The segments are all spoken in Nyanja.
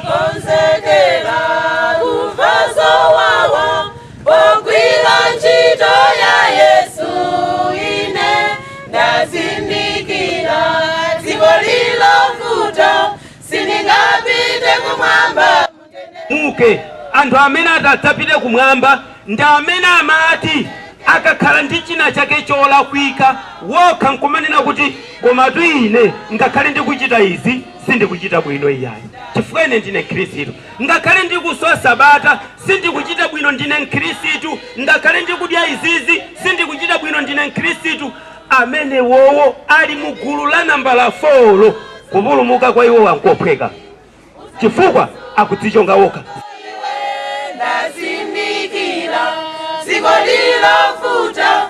Ndakonzekera kumva zowawa pogwira ntchito ya Yesu ine ndazindikira dziko lilovuta sindingapite kumwamba muke anthu amene atadzapite kumwamba ndi amene amati akakhala ndi china chake cholakwika wokha nkumanena kuti komatu ine ngakhale ndikuchita izi sindikuchita bwino iyayi chifukwa ine ndine mkhristu ngakhale ndikuswa sabata sindikuchita bwino ndine mkhristu ngakhale ndikudya izizi sindikuchita bwino ndine mkhristu amenewowo ali mu gulu la nambala 4 lo kupulumuka kwa iwo nkophweka chifukwa akudzichonga wokha ndazindikira dziko lilovuta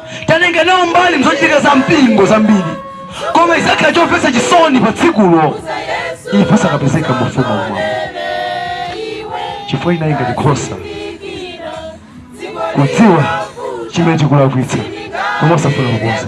tatengana nawo mbali mzochitika za mpingo zambiri koma chizakhala chomvetsa chisoni pa tsikulo ife osakapezeka mu ufumu wamwamba chifukwa chinali ngati kukhoza kudziwa chimene tikulakwitsa koma osafuna kukonza